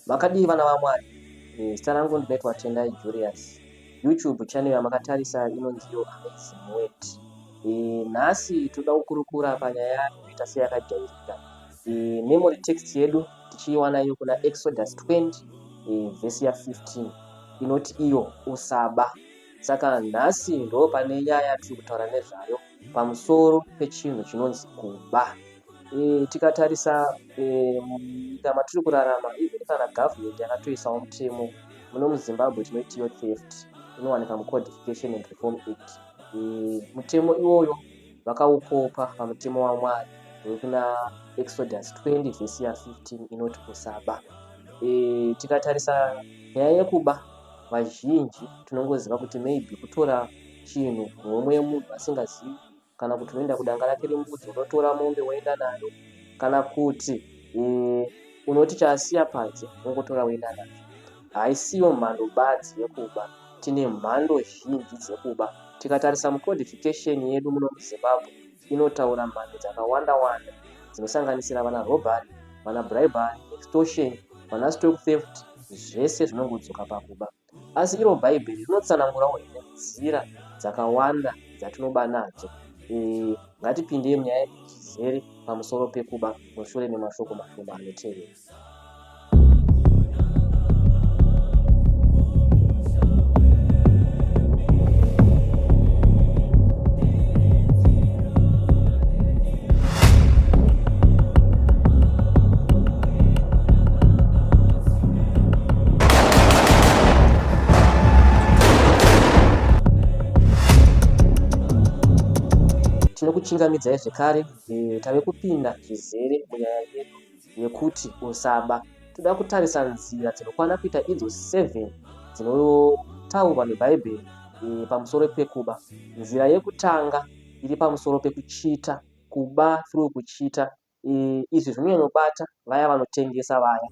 Makadii vana vaMwari? Eh, zita rangu ndinoitwa Tendai Julius. YouTube channel yamakatarisa inonzi Your Amazing Word. Eh, nhasi toda kukurukura panyaya inoita seyakajairika. Eh, memory text yedu tichiiwana iyo kuna Exodus 20 eh, vhesi ya 15 inoti iyo usaba. Saka nhasi ndopane nyaya yatiri kutaura nezvayo pamusoro pechinhu chinonzi kuba. E, tikatarisa e, munyika matiri kurarama even kana government yakatoisawo mutemo muno muzimbabwe tinoitiyo theft inowanika mucodification and reform act e, mutemo iwoyo vakaukopa pamutemo wamwari wekuna exodus 20 vhesi ya 15 inoti kusaba e, tikatarisa nyaya yekuba vazhinji tinongoziva kuti maybe kutora chinhu homwe yemunhu asingazivi kana kuti unoenda kudanga rake rembudzi unotora mombe woenda nayo kana kuti eh, unoti chaasiya panze ungotora woenda nayo haisiyo mhando badzi yekuba tine mhando zhinji dzekuba tikatarisa mucodification yedu muno muzimbabwe inotaura mhando dzakawanda-wanda dzinosanganisira vana robbery, vana bribery, extortion, vana stock theft zvese zvinongodzoka pakuba. Asi iro Bhaibheri rinotsanangurawo here nzira dzakawanda dzatinoba nadzo? Ee, ngatipindei munyaya iyi tizere pamusoro pekuba mushure memashoko mashoma anotevera. Tinokuchingamidzai zvekare, tave kupinda zvizere munyaya yedu. yekuti usaba. Toda kutarisa nzira dzinokwana kuita idzo seven dzinotaurwa neBhaibheri e, pamusoro pekuba. Nzira yekutanga iri pamusoro pekuchita, kuba through kuchita. E, izvi zvinonyanyobata vaya vanotengesa vaya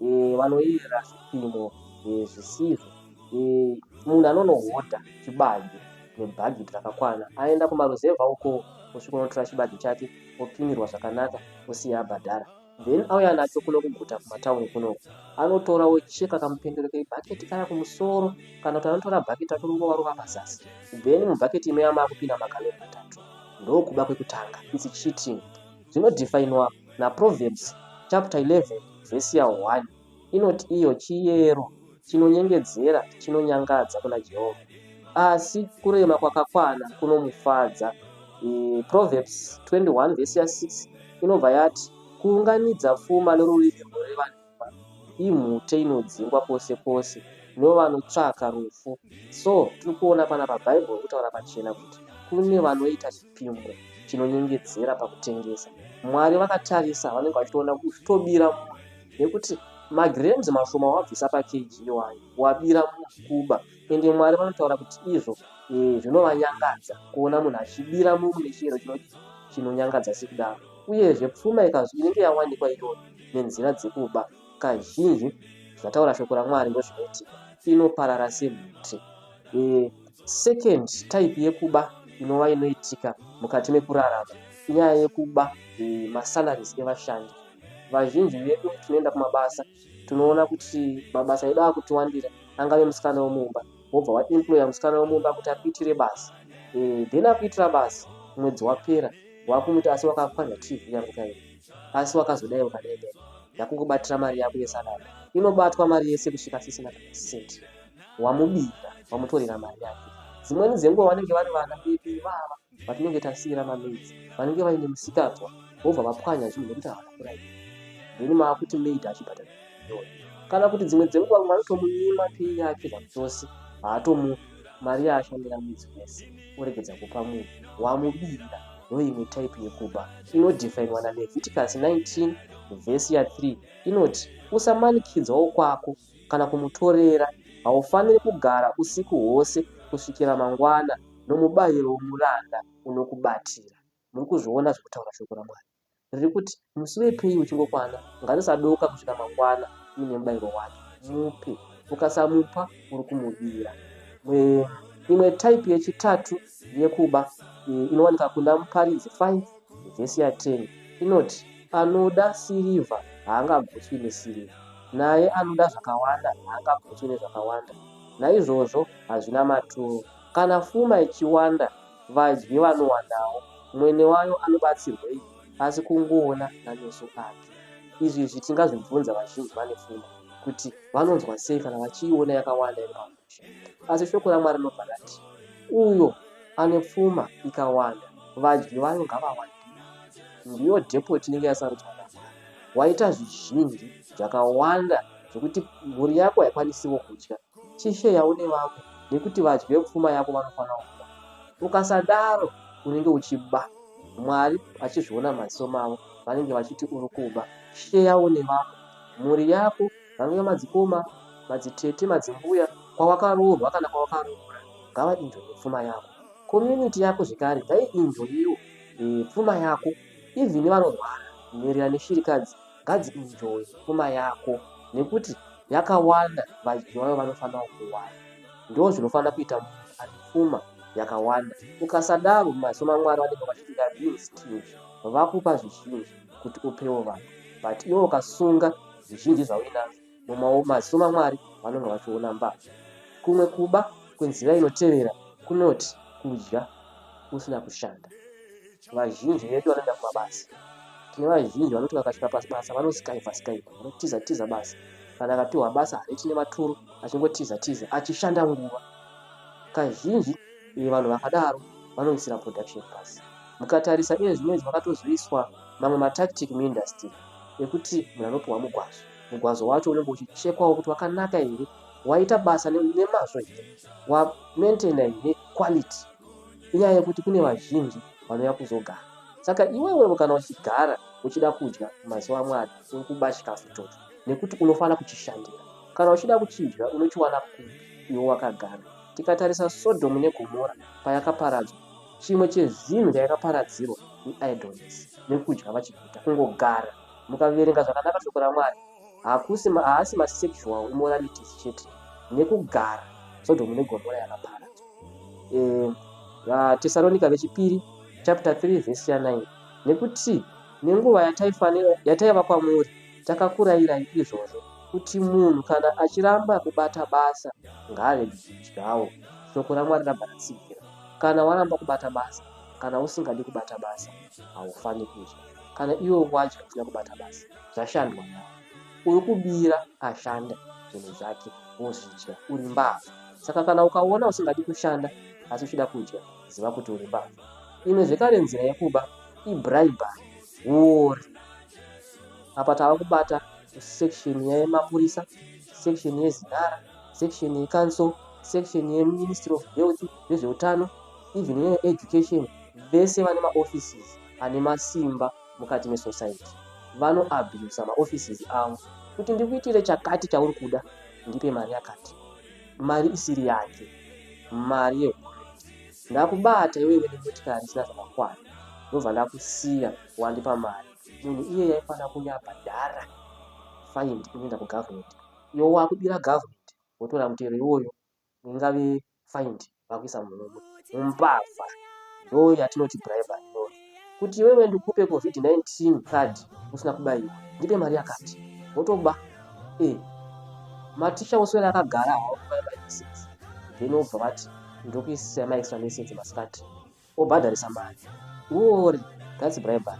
e, vanoyera zvipimo e, zvisizvo. Eh, munhu anonohodha chibage nebhagidhi rakakwana aenda kumaruzevha uko osvika unotora chibage chake opimirwa zvakanaka osiya abhadhara then auya nacho kuno kuguta kumatauni kunoko anotora ocheka kamupendero kebhaketi kaya kumusoro kana kuti anotora bhaketi racho rorova rova pazasi then mubhaketi imoya maakupinda magaloni matatu ndokuba kwekutanga its cheating zvinodefiniwa naproverbs chapter 11 vhesi ya 1 inoti iyo chiyero chinonyengedzera chinonyangadza kuna Jehovha, asi kurema kwakakwana kunomufadza. Proverbs 21 vhesi ya 6 inobva yati, Kuunganidza pfuma norurimi runoreva nhema imhute inodzingwa kwose kwose novanotsvaka rufu. So tiri kuona panapa Bhaibheri kutaura pachena kuti kune vanoita chipimo chinonyengedzera pakutengesa. Mwari vakatarisa vanenge vachitoona kuzvitobira munhu. nekuti magrams mashoma wabvisa pakg iwayo wabira mukuba ende mwari vanotaura kuti izvo eh, zvinovanyangadza kuona munhu achibira munhu nechiyero chinonyangadza sekudaro uyezve pfuma ikazvi inenge yawanikwa iyoyo nenzira dzekuba kazhinji zvataura shoko ramwari ndozvinoitika inoparara semhuti eh, second type yekuba inova inoitika mukati mekurarama inyaya yekuba eh, masalaries evashandi Vazhinji vedu tinoenda kumabasa tinoona kuti mabasa edu akutiwandira angave musikana wemumba wobva waemployer musikana wemumba kuti akuitire basa eh, then akuitira basa mwedzi wapera wakumuti asi wakapwanya tv yangu chaiyo asi wakazodai wakadai dai ndakungobatira mari yako yesalary inobatwa mari yese kusvika sisina kana cent wamubira wamutorera mari yake dzimweni dzenguva vanenge vari vana vedu ivava patinenge tasiira mamaids vanenge vaine musikanzwa vobva vapwanya zvinhu nekuti havana kuraiwa then maakuti maid achibhadhara million kana kuti dzimwe dzenguva vamwe vanotomunyima pei yake zvachose haatomu mari yaashandira mwedzi wese oregedza kupa munhu wamubira ndoimwe type yekuba inodhifainwa naleviticus 19 vhesi ya 3 inoti usamanikidzwawo kwako kana kumutorera. Haufaniri kugara usiku hwose kusvikira mangwana nomubayiro womuranda unokubatira. Muri kuzviona zviri kutaura Shoko raMwari? Riri kuti, Musi wepei uchingokwana, ngarisadooka kusvika mangwana uine mubayiro wake. Mupe. Ukasamupa, uri kumubira. Mwe, imwe type yechitatu yekuba iyi inowanika kuna Muparidzi 5 vhesi ya 10 inoti, Anoda sirivha haangagutswi nesirivha, naye anoda zvakawanda haangagutswi nezvakawanda. Naizvozvo hazvina maturo. Kana fuma ichiwanda, vadyi vanowandawo, mwene wayo anobatsirwei asi kungoona nameso ake? Izvi izvi tingazvibvunza vazhinji vane fuma kuti vanonzwa sei kana vachiiona yakawanda iri pamaoko. Asi shoko raMwari rinobva rati, Uyo ane pfuma ikawanda, vadyi vayo ngavawandire. Ndiyo depoti inenge yasarudzwa naMwari. Waita zvizhinji zvakawanda zvekuti mhuri yako haikwanisiwo kudya, chisheyawo nevamwe nekuti vadyi vepfuma yako vanofanirawo kuwana. Ukasadaro unenge uchiba. Mwari vachizviona mumaziso mavo vanenge vachiti uri kuba. Sheyawo nevamwe. Mhuri yako vanouya madzikoma, madzitete, madzimbuya kwawakaroorwa kana kwawakaroora ngava inzwe nepfuma yako community yako zvekare dai inzwe iyo pfuma yako even vanorwara nherera neshirikadzi ngadzi enjoy pfuma yako nekuti yakawanda vadyi vayo vanofanira kuwana ndo zvinofanira kuita munhu ane pfuma yakawanda ukasadaro mumaziso mamwari vanenge vachiti theyare being stingy vakupa zvizhinji kuti upewo vanhu but iwe ukasunga zvizhinji zvauinazvo mumaoko maziso maMwari vanonga vachiona mbavha. Kumwe kuba kwenzira inotevera kunoti kudya usina kushanda. Vazhinji vedu vanoenda kumabasa. Tine vazhinji vanoti vakasvika pabasa vanosikaiva sikaiva, vanotiza tiza basa. Kana akapihwa basa hariti nematuro achingotiza tiza achishanda nguva. Kazhinji eh, vanhu vakadaro vanoisira production pasi. Mukatarisa iye zvino izvi makatozoiswa mamwe matactic muindustry. yekuti munhu anopiwa mugwazo mugwazo wacho unenge uchichekwawo kuti wakanaka here waita basa nemazvo here wamaintaina here quality inyaya yekuti kune vazhinji vanouya kuzogara saka iwewevo kana uchigara uchida kudya mazuva amwari uri kuba chikafu ichocho nekuti unofanira kuchishandira kana uchida kuchidya unochiwana kupi iwe wakagara tikatarisa sodhomu negomora payakaparadzwa Chimwe chezvinhu chayakaparadzirwa neidleness nekudya vachiguta kungogara. Mukaverenga zvakanaka shoko raMwari, hakusi haasi masexual immoralities chete nekugara Sodhomu neGomora yakaparadzwa. E, VaTesaronika vechipiri chapter 3 verse ya 9 nekuti nenguva yataifanira yataiva kwamuri takakurayirai izvozvo kuti munhu kana achiramba kubata basa ngaarege kudyawo. Shoko raMwari rabva ratsigira. Kana waramba kubata basa kana usingadi kubata basa haufani kudya kana iwe wadya usina kubata basa zvashandwa naye uri kubira ashanda zvinhu zvake wozvidya uri mbavha saka kana ukaona usingadi kushanda asi uchida kudya ziva kuti uri mbavha imwe zvekare nzira yekuba ibribari huori apa tava kubata section yemapurisa section yezinara section yecouncil section yeministry of health vezveutano even yeeducation vese vane maoffices ane masimba mukati mesociety vanoabusa maoffices avo kuti ndikuitire chakati chauri kuda ndipe mari yakati mari isiri yake mari yehurumende ndakubata iwewe nemotikari isina zvakakwana ndobva ndakusiya wandipa mari munhu iye yaifanira kuuya apa dhara find inoenda kugovernment iyo wakudira government wotora mutero iwoyo ingave find vakuisa munhu mumbavha ndo yatinoti bribe ndo kuti iwewe ndikupe covid-19 card usina kubaiwa ndipe mari yakati wotoba e eh, maticha oswera akagara hawakubaia maexes then wobva vati ndokuisisa maextra message masikati Obhadharisa mari. Huori, that's bribery.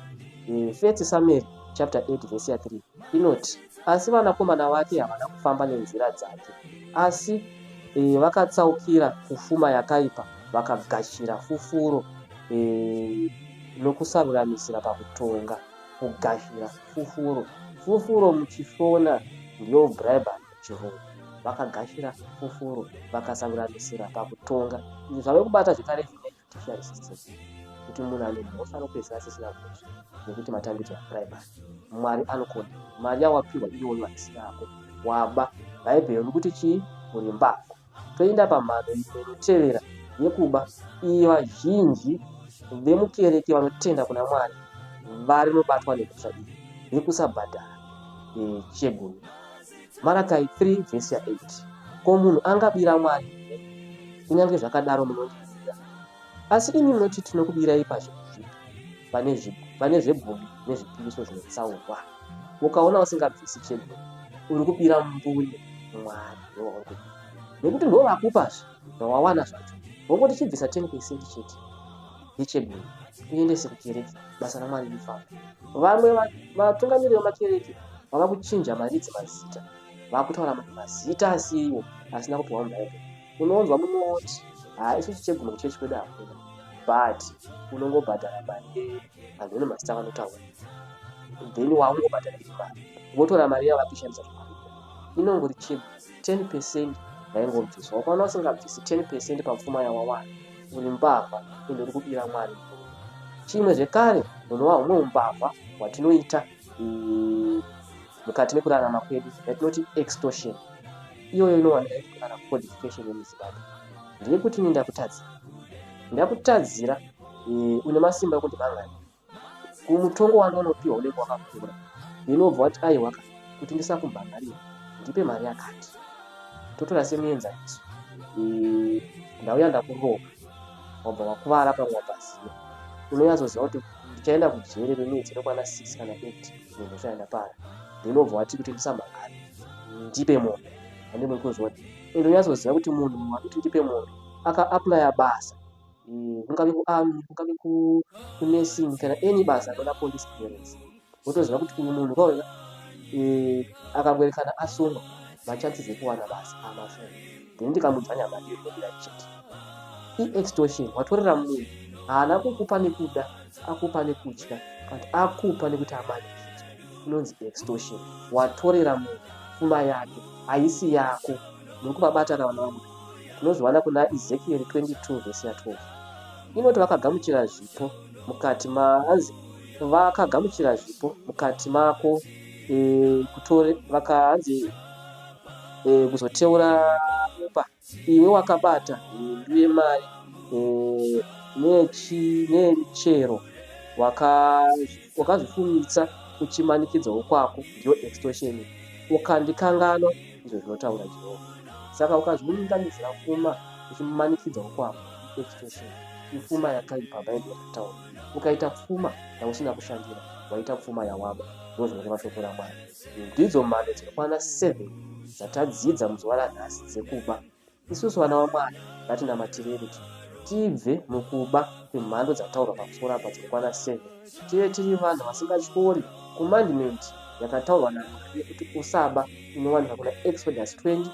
Eh, First Samuel chapter 8 verse ya 3 inoti, Asi vanakomana vake havana kufamba nenzira dzake, asi eh, vakatsaukira kufuma yakaipa, vakagashira fufuro eh, nokusaruramisira pakutonga. Kugashira fufuro. Fufuro muchiShona ndiyo bribery. Jehovha. Vakagashira fufuro vakasanganisira pakutonga. Izvi zvave kubata zvekare zvinei judiciary system kuti munhu ane mhosva anopedzisira asisina mhosva nekuti matambidzo apuraimari mwari anokona mari yawapihwa iyoyo haisi yako waba bhaibheri rikuti chii uri mbavha Toenda pamhano imwe inotevera yekuba iyi vazhinji vemukereke vanotenda kuna Mwari varinobatwa nemhosva iyi yekusabhadhara chegumi. Marakai 3 vhesi ya 8 Ko munhu angabira Mwari here? Kunyange zvakadaro munondibira. Asi imi munoti tinokubirai pazvinhu zvipi? Pane zvegumi nezvipiriso zvinotsaurwa. Ukaona usingabvisi chegumi uri kubira mbune Mwari. nekuti ndivo vakupa zvawawana zvacho wongoti chibvisa 10 percent chete yechebhini uendese kukereke basa ramwari rifamba vamwe vatungamiriri vemakereke vava kuchinja maridzi mazita vakutaura mamwe mazita asiiwo asina kupiwa mubhaibheri unonzwa mumwe woti haa isu chicheguma kuchechi kwedu hakuna but unongobhadhara mari vanhu une mazita vanotaura then waungobhadhara iri mari votora mari yavo vatoshandisa zvekuita inongori chip 10 percent yaingobviswa ukaona usingabvisi 10 percent papfuma yawawana uri mbavha ende uri kudira mwari chimwe zvekare hunova humwe umbavha hwatinoita mukati mekurarama kwedu yatinoti extortion iyoyo inowanika ichikurara codification yemuzimbabwe ndiri kuti ini ndakutadzira ndakutadzira eh, une masimba ekuti mangani kumutongo wanga unopiwa unenge wakakura inobva wati aiwa ka kuti ndisakumhangarira ndipe mari yakati totora semuenzaniso eh, ndauya ndakuroka wabva wakuvara pamwe wapaziva unonyatsoziva kuti ndichaenda kujeri remwedzi inokwana six kana eight nemhosva yandapara then wobva wati kuti ndisamhangari ndipe mombe andimwe kuzviona and unyatsoziva kuti munhu wakuti ndipe mombe akaaplya basa eh, kungave kuarmy kungave kunursing kana any basa anoda police clearance wotoziva kuti uyu munhu kwauya eh, akangoerekana asungwa machances ekuwana basa amashoma then ndikamudzwa nyama ndiyo inodira chete iextortion watorera munhu haana kukupa nekuda akupa nekutya but akupa nekuti amani inonzi extortion watorera munhu pfuma yake haisi yako muri kuvabata na vana vamwe tinozviwana kuna ezekiel 22 vhesi ya 12 inoti vakagamuchira zvipo mukati maanzi vakagamuchira zvipo mukati mako eh, kutore vakahanzi eh, kuzoteura mumba iwe wakabata hindu yemari eh, nemichero wakazvifumitsa kuchimanikidzawo kwako ndiyo extortion ukandikanganwa izvo zvinotaura jehovha saka ukazviunganidzira fuma uchimanikidzawo kwako extortion ifuma yakaipa bhaibheri rataura ukaita pfuma yausina kushandira waita pfuma yawaba ndizvo zvinoreva shoko ramwari ndidzo mhando dzinokwana 7 dzatadzidza muzuva ranhasi dzekuba isusu vana vamwari ngatinamatirei tibve mukuba kwemhando dzataurwa pamusoro apa dzinokwana 7 tive tiri vanhu vasingatyori commandment yakataurwa namwari yekuti usaba inowanika kuna exodus 20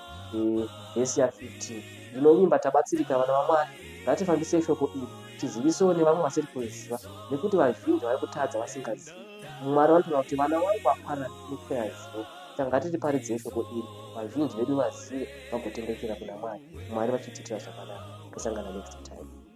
vhesi ya 15 ndinovimba tabatsirika vana vamwari ngatifambisei shoko iri tizivisewo nevamwe vasiri kuziva nekuti vazhinji vari kutadza vasingazivi. Mwari vanotoda kuti vana vangu vakwana mukupera zivo saka ngatiriparidzei shoko iri vazhinji vedu vazive vagotendeukiira kuna Mwari Mwari vachitiitira zvakanaka. Tosangana next time.